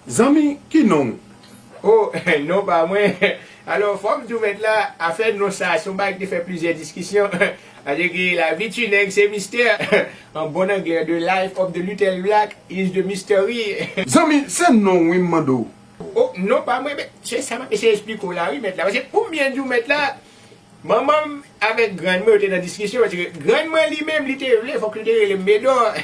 Zanmi ki non ou? Oh non pa mwen. Alò fò m di w mèt la, afè non sa a se yon bagay ki te fè plizyè diskisyon. Paske ke lavi ti nèg se mistè. An bon anglè The life of the little black is the mystery. Zanmi se non w wi m mande w? Oh non pa mwen. Men se sa m ap eseye esplike w la wi mèt la. Paske pou m byen di w mèt la, Manman m avèk grann mwen yo te nan diskisyon paske grann mwen li menm li te vle fòk li te rele m Medor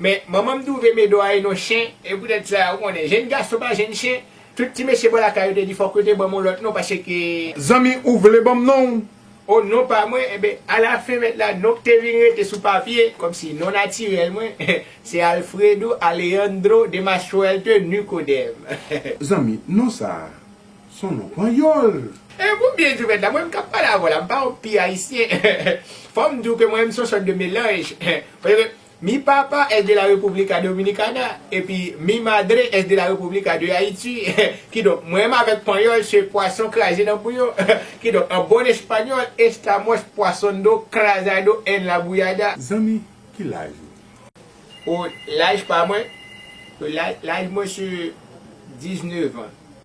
men manman m twouve Medor a e non chen e poutèt sa ou konnen jenn gason pa jenn chen tout ti mesye bò lakay yo te di fòk yo te ban m yon lòt non paske Zanmi ou vle ban m non w? O non pa mwen enben alafen mèt la non k te vin rete sou papye kòmsi non natirèl mwen se Alfredo Alejandro de Mastroelte Nicodème. Zanmi, non sa a Son non panyòl! E pou byen di w mèt la, mwen menm k ap pale avè w la, m pa yon pi Ayisyen. Fò m di w ke mwen menm se yon sòt de melanj. Paske, mi papa es de la República Dominicana, epi mi madre es de la República de Haiti. Kidonk, mwen menm avèk panyòl se pwason kraze nan bouyon. Kidonk, an bon espanyòl, estamos poison'do, crazado en la bouillada. Zanmi, ki laj ou? O, laj pa mwen? Laj mwen se 19 ans.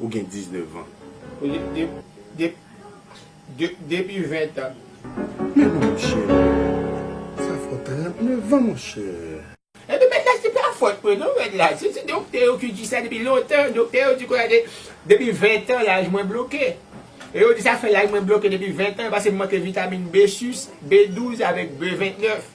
Ou gen 19 ans. Depi 20 ans. Men monchè. Sa fè w 39 ans monchè. Epi mèt la se pa fòt mwen non mèt la. Se ti doktè yo ki di sa depi lontan. Doktè yo di kòlè depi 20 ans laj mwen bloke. E yo di sa fè laj mwen bloke depi 20 ans. Pase m manke vitamin B6, B12 avèk B29.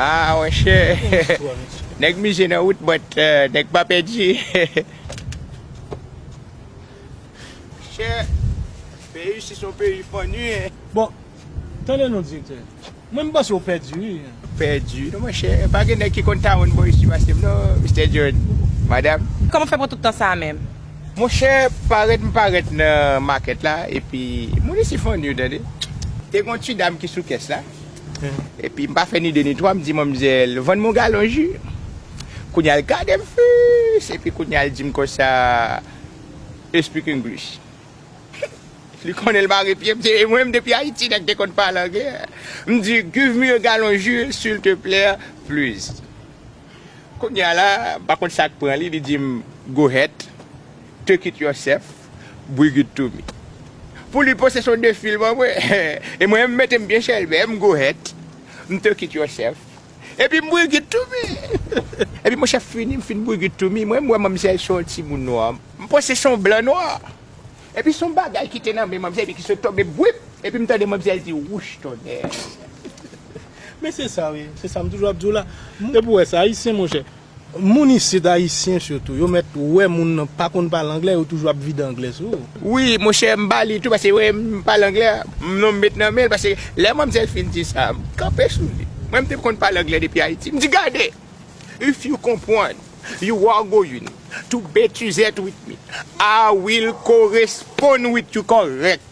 Aah monchè nèg mize nan wout but nèg pa pèdi Monchè peyi isi se yon peyi funny hein. Bon tande non direktè mwen m panse ou pèdi wi. Pèdi non monchè pa gen nèg ki konn tawonn bò isi pase m non Mister John, Madam. Kòman w fè pran tout tan sa a menm? Monchè parèt m parèt nan market la epi moun isi funny tande. Te gen yon ti dam ki sou kès la. Epi m pa fè ni de ni twa m di manmzèl vann m yon galon ji. Kounya l gade m fiiss epi kounya l di m konsa u speak English. Li konnen l mare pye m se e mwen m depi Ayiti nèg te konn pale angle. M di give me a gallon ji sil te plè please. Kounya la m pa konn sa k pran li, li di m go het, take it yourself. Brigitte to me. Pou li poste son de film an vre e mwen m mete m byen chèlbè m go het m to kit yon chèf epi m Brigitte to me epi mwen chèf fini m fin Brigitte to me mwen m wè manmzèl se yon ti moun nwa m panse se yon blan nwa epi son bagay ki te nan men manmzèl epi ki sot to me bwip epi m tande manmzèl di wouch tonnè. Men se sa wi, se sa m toujou ap di w la. Epi w wè sa, Ayisyen monchè. Moun isit ayisyen sitou yo mèt wè moun nan pa konn pale anglè yo toujou ap vide anglè sou ou. Wi monchè m bali tou paske yo wè m pale anglè m non m met nan menl paske lè manmzèl fin di sa m kanpe sou li mwen m te konn pale anglè depi ayiti m di gade if you konpwann you are going to bet you zèt with me I will koresponn with you kòrèk.